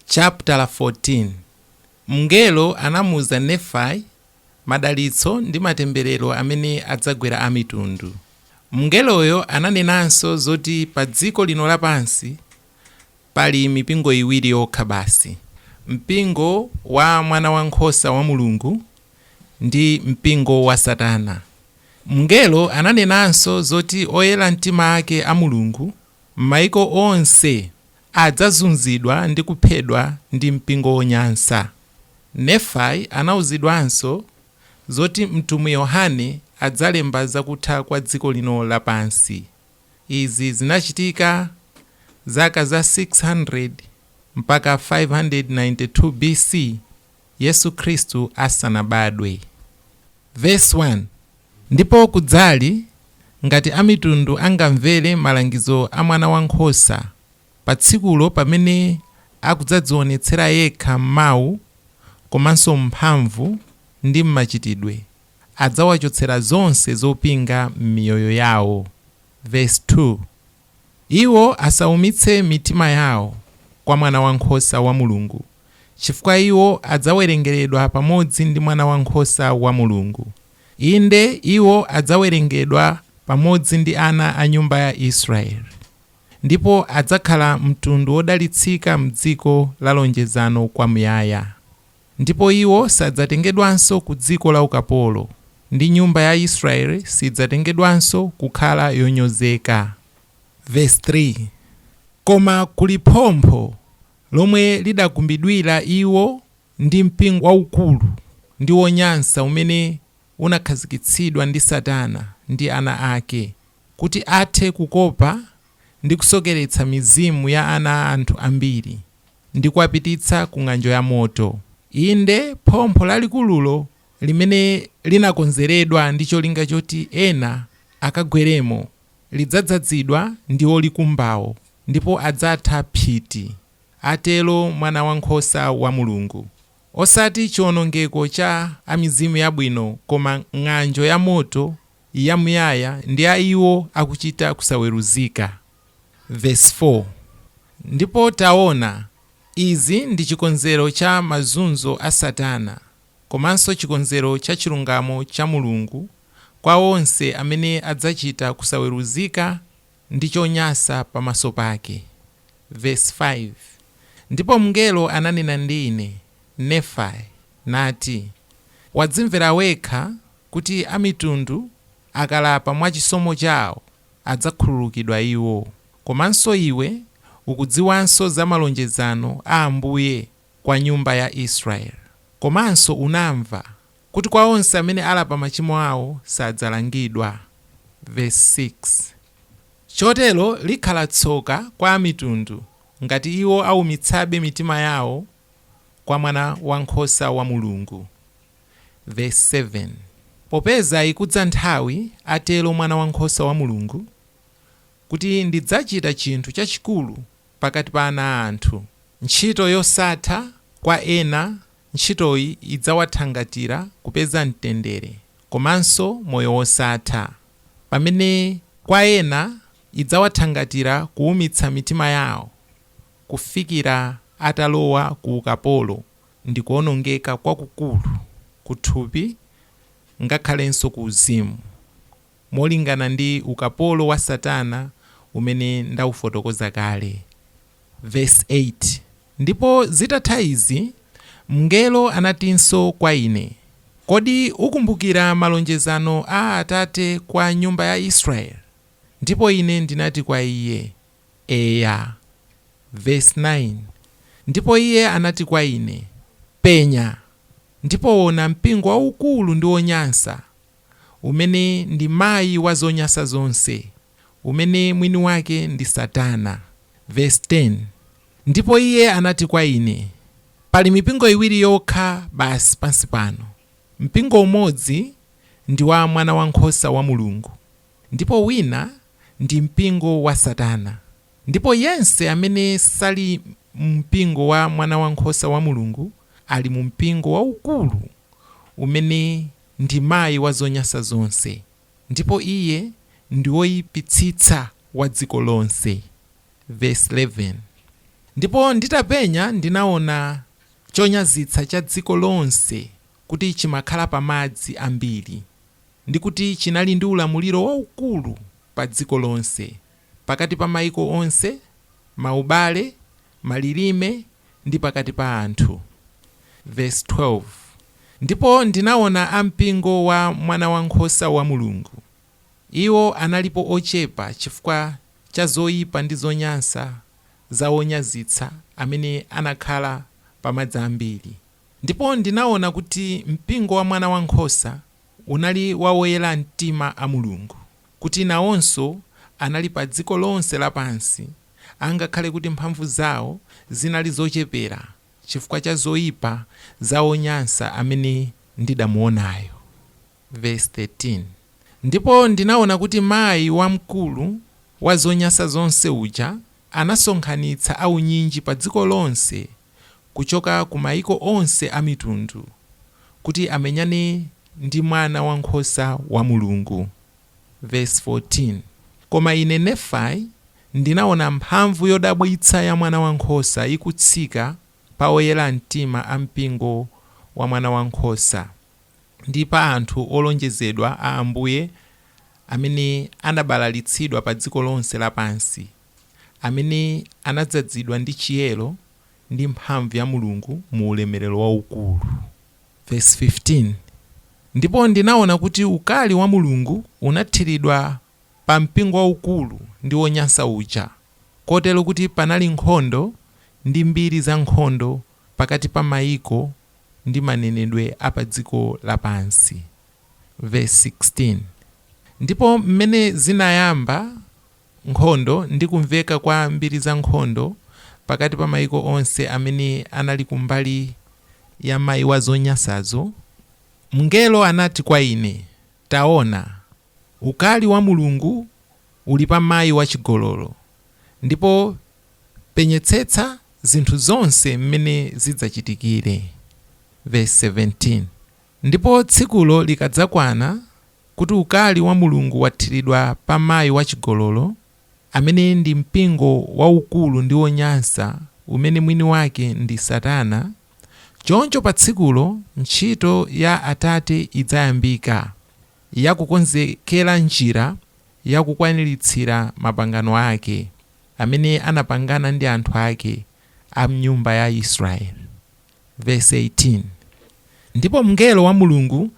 Chaputala 14, Mngelo anamuuza Nefai madalitso ndi matemberero amene adzagwera amitundu. Mngeloyo ananenanso zoti padziko lino lapansi pali mipingo iwiri yokha basi, mpingo wa Mwanawankhosa wa Mulungu ndi mpingo wa Satana. Mngelo ananenanso zoti oyera mtima ake a Mulungu m'mayiko onse Adzazunzidwa ndi kuphedwa ndi mpingo wonyansa. Nefai anauzidwanso zoti mtumwi Yohane adzalemba za kutha kwa dziko lino lapansi. Izi zinachitika zaka za 600 mpaka 592 B.C. Yesu Khristu asanabadwe. Vesi 1, Ndipo kudzali, ngati amitundu angamvere malangizo a Mwanawankhosa, pa tsikulo pamene akudzadzionetsera yekha m'mawu komanso m'mphamvu ndi m'machitidwe, adzawachotsera zonse zopinga m'miyoyo yawo. Vesi 2. Iwo asaumitse mitima yawo kwa Mwanawankhosa wa Mulungu, chifukwa iwo adzawerengeredwa pamodzi ndi Mwanawankhosa wa Mulungu, inde, iwo adzawerengedwa pamodzi ndi ana a nyumba ya Israeli, ndipo adzakhala mtundu wodalitsika m'dziko la lonjezano kwamuyaya. Ndipo iwo sadzatengedwanso ku dziko la ukapolo, ndi nyumba ya Israeli sidzatengedwanso kukhala yonyozeka. Vesi 3, Koma kuli phompho lomwe lidakumbidwira iwo ndi mpingo waukulu ndi wonyansa umene unakhazikitsidwa ndi Satana ndi ana ake, kuti athe kukopa ndi kusokeretsa mizimu ya ana a anthu ambiri. ndi kuwapititsa ku ng'anjo ya moto. Inde, phompho lalikululo limene linakonzeredwa ndi cholinga choti ena akagweremo lidzadzadzidwa ndi olikumbawo, ndipo adzatha phiti, atero Mwanawankhosa wa Mulungu. Osati chiwonongeko cha a mizimu yabwino, koma ng'anjo ya moto yamuyaya ndi a iwo akuchita kusaweruzika. Vesi 4, Ndipo taona, izi ndi chikonzero cha mazunzo a Satana, komanso chikonzero cha chilungamo cha Mulungu kwa onse amene adzachita kusaweruzika, ndi chonyansa pamaso pake. Vesi 5, Ndipo mngelo ananena ndi ine, Nefai, nati, Wadzimvera wekha kuti amitundu akalapa mwa chisomo chao adzakhululukidwa iwo, komanso iwe ukudziwanso za malonjezano a Ambuye kwa nyumba ya Israeli, komanso unamva kuti kwa onse amene alapa machimo awo sadzalangidwa, vesi 6. Chotero likhala tsoka kwa Amitundu ngati iwo aumitsabe mitima yawo kwa Mwanawankhosa wa Mulungu, vesi 7. Popeza ikudza nthawi, atero Mwanawankhosa wa Mulungu, kuti ndidzachita chinthu chachikulu pakati pa ana a anthu, ntchito yosatha kwa ena Ntchitoyi idzawathangatira kupeza mtendere komanso moyo wosatha. Pamene kwa ena idzawathangatira kuumitsa mitima yawo kufikira atalowa ku ukapolo ndi kuonongeka kwakukulu kuthupi ngakhalenso kuuzimu. molingana ndi ukapolo wa Satana umene ndaufotokoza kale. Vesi 8, Ndipo zitatha izi mngelo anatinso kwa ine, Kodi ukumbukira malonjezano a Atate kwa nyumba ya Israeli? Ndipo ine ndinati kwa iye, Eya. Vesi 9, Ndipo iye anati kwa ine, Penya, ndipo ona mpingo waukulu ndi wonyansa, umene ndi mayi wa zonyansa zonse, umene mwini wake ndi Satana. Vesi 10, Ndipo iye anati kwa ine, Pali mipingo iwiri yokha basi pansi pano, mpingo umodzi ndi wa Mwanawankhosa wa Mulungu, ndipo wina ndi mpingo wa Satana, ndipo yense amene sali mu mpingo wa Mwanawankhosa wa Mulungu ali mu mpingo waukulu umene ndi mayi wa zonyasa zonse, ndipo iye ndi woyipitsitsa wa dziko lonse. Vesi 11, Ndipo nditapenya ndinaona chonyazitsa cha dziko lonse kuti chimakhala pa madzi ambiri, ndi kuti chinali ndi ulamuliro waukulu pa dziko lonse, pakati pa maiko onse, maubale, malilime, ndi pakati pa anthu. Vesi 12, Ndipo ndinaona a mpingo wa Mwanawankhosa wa Mulungu. Iwo analipo ochepa chifukwa cha zoipa ndi zonyansa za onyazitsa amene anakhala pa madzi ambiri. Ndipo ndinaona kuti mpingo wa Mwanawankhosa unali wa oyera mtima a Mulungu. kuti nawonso anali padziko lonse lapansi angakhale kuti mphamvu zawo zinali zochepera chifukwa cha zoyipa za wonyansa amene ndidamuonayo. Vesi 13, Ndipo ndinaona kuti mayi wamkulu wa zonyansa zonse uja anasonkhanitsa aunyinji padziko lonse kuchoka ku maiko onse a mitundu, kuti amenyane ndi Mwanawankhosa wa Mulungu. Vesi 14, Koma ine, Nefai, ndinaona mphamvu yodabwitsa ya Mwanawankhosa ikutsika pa oyera mtima a mpingo wa Mwanawankhosa, ndi pa anthu olonjezedwa a Ambuye amene anabalalitsidwa pa dziko lonse lapansi. amene anadzazidwa ndi chiyero ndi mphamvu ya Mulungu mu ulemerero waukulu. Vesi 15, Ndipo ndinaona kuti ukali wa Mulungu unathiridwa pa mpingo waukulu ndi wonyansa uja, kotero kuti panali nkhondo ndi mbiri za nkhondo pakati pa maiko ndi manenedwe a padziko lapansi. Vesi 16, Ndipo m'mene zinayamba nkhondo ndi kumveka kwa mbiri za nkhondo pakati pa maiko onse amene anali kumbali ya mayi wa zonyansazo, mngelo anati kwa ine, Taona, ukali wa Mulungu uli pa mayi wachigololo, ndipo penyetsetsa zinthu zonse m'mene zidzachitikire. Vesi 17. Ndipo tsikulo likadzakwana, kuti ukali wa Mulungu wathiridwa pa mayi wachigololo, amene ndi mpingo waukulu ndi wonyansa, umene mwini wake ndi Satana, choncho pa tsikulo ntchito ya Atate idzayambika, ya kukonzekera njira ya kukwaniritsira mapangano ake, amene anapangana ndi anthu ake, a m'nyumba ya Israeli. Vesi 18, Ndipo mngelo wa Mulungu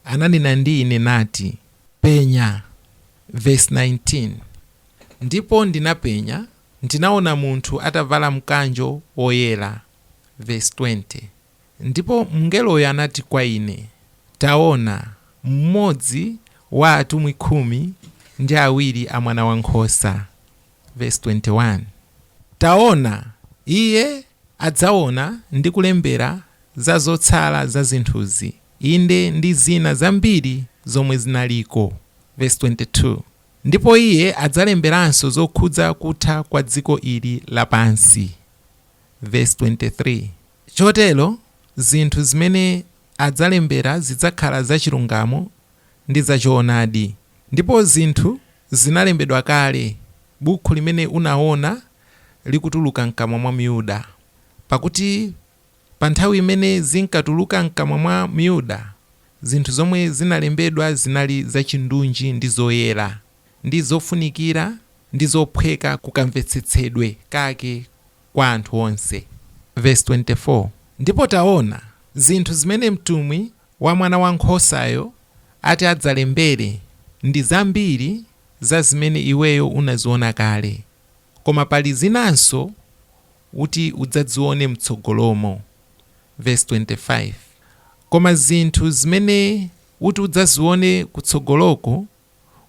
ananena ndi ine, nati, Penya. Vesi 19, Ndipo ndinapenya, ndinaona munthu atavala mkanjo woyera. Vesi 20, Ndipo mngeloyo anati kwa ine, Taona, mmodzi wa atumwi khumi ndi awiri a Mwanawankhosa. Vesi 21, Taona, iye adzaona ndi kulembera za zotsala za zinthuzi, inde ndi zina zambiri zomwe zinaliko. Vesi 22, Ndipo iye adzalemberanso zokhudza kutha kwa dziko ili lapansi. Vesi 23, Chotero zinthu zimene adzalembera zidzakhala za chilungamo ndi za choonadi, ndipo zinthu Zinalembedwa kale, Bukhu limene unawona likutuluka mkamwa mwa Myuda, pakuti pa nthawi imene zinkatuluka mkamwa mwa Myuda, zinthu zomwe zinalembedwa zinali zachindunji ndi zoyera, ndi zofunikira ndi zophweka ku kamvetsetsedwe kake kwa anthu onse. Vesi 24, Ndipo taona, zinthu zimene mtumwi wa mwana wa nkhosayo ati adzalembere ndi zambiri za zimene iweyo unaziona kale, koma pali zinanso uti udzazione m'tsogolomo. Vesi 25, Koma zinthu zimene uti udzazione kutsogoloko,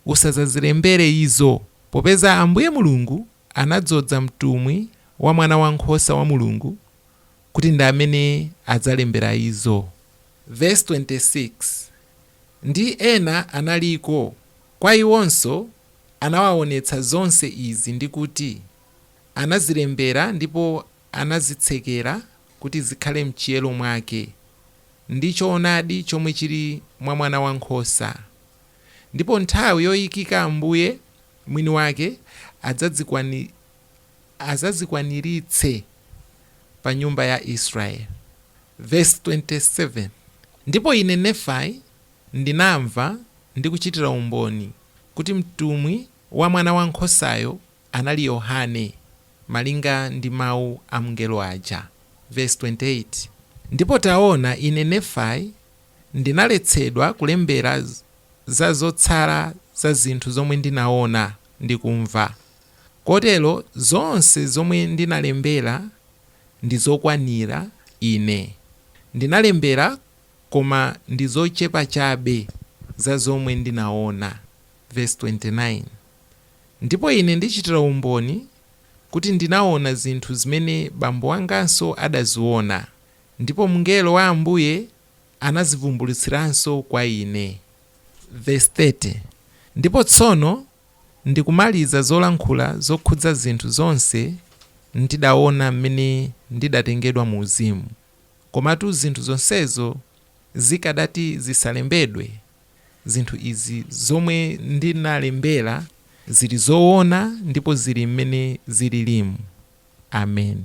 usadzazilembere izo, popeza Ambuye Mulungu anadzoza mtumwi wa Mwana wa Nkhosa wa Mulungu kuti ndi amene adzalembera izo. Vesi 26, Ndi ena analiko, kwa iwonso anawawonetsa zonse izi, ndi kuti anazilembera ndipo anazitsekera kuti zikhale mchiyero mwake, ndi choonadi chomwe chiri mwa Mwanawankhosa. Ndipo nthawi yoikika Ambuye mwini wake adzazikwani adzazikwaniritse pa nyumba ya Israyeli. Vesi 27, Ndipo ine, Nefai, ndinamva ndi kuchitira umboni kuti mtumwi wa Mwana wa Nkhosayo anali Yohane, malinga ndi mau a mngelo aja. Vesi 28, Ndipo taona, ine, Nefai, ndinaletsedwa kulembera za zotsala za zinthu zomwe ndinaona ndi kumva. Kotero zonse zomwe ndinalembera ndi zokwanira ine. Ndinalembera koma ndi zochepa chabe za zomwe ndinaona, Vesi 29. Ndipo ine ndichitira umboni kuti ndinaona zinthu zimene bambo wanganso adaziona, ndipo mngelo wa Ambuye anazivumbulutsiranso kwa ine, Vesi 30. Ndipo tsono ndi kumaliza zolankhula zokhudza zinthu zonse ndidaona m'mene ndidatengedwa mu uzimu, komatu zinthu zonsezo zikadati zisalembedwe, zinthu izi zomwe ndinalembera zili zoona ndipo zili m'mene zililimu. Ameni.